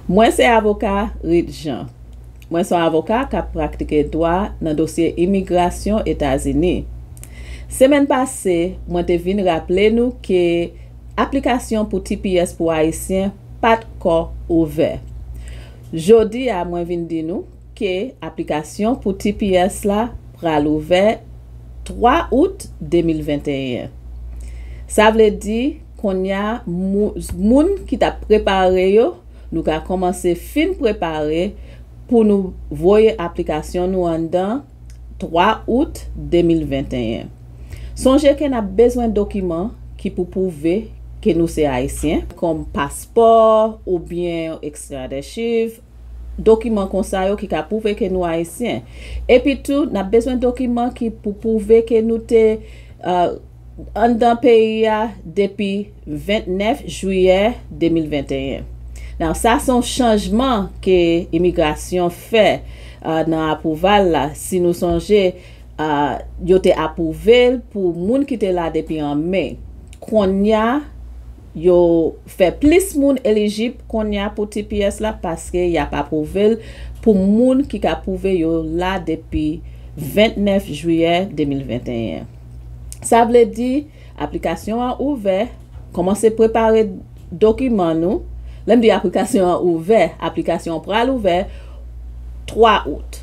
Mwen se avoka Rit Jean. Mwen son avoka k ap praktike dwa nan dosye imigrasyon Etazini. Semèn pase, mwen te vin raple nou ke aplikasyon pou tps pou Ayisyen pa t ko ouvè. Jodi a mwen vin di nou. ke aplikasyon pou tps la pral ouvè 3 out 2021. Sa vle di konnya moun ki tap prepare yo nou ka kòmanse fin prepare pou nou voye aplikasyon nou anndan 3 out 2021. Sonje ke nap bezwen dokiman ki pou pwouve ke nou se ayisyen, kòm paspò oubyen ekstradèchiv. dokiman konsa yo ki ka pwouve ke nou Ayisyen. Epi tou, n ap bezwen dokiman ki pou pwouve ke nou te anndan peyi a depi 29 jiyè 2021. Now, sa se yon chanjman ke imigrasyon fè nan apwouval la. Si nou sonje, yo te apwouve l pou moun ki te la depi an Me. Konnya. Yo fè plis moun elijib konnya pou tps la paske y ap apwouve l pou moun ki ka pwouve yo la depi 29 jiyè 2021. Sa vle di aplikasyon an ouvè, kòmanse prepare dokiman nou, lè m di aplikasyon an ouvè, aplikasyon an pral ouvè 3 out.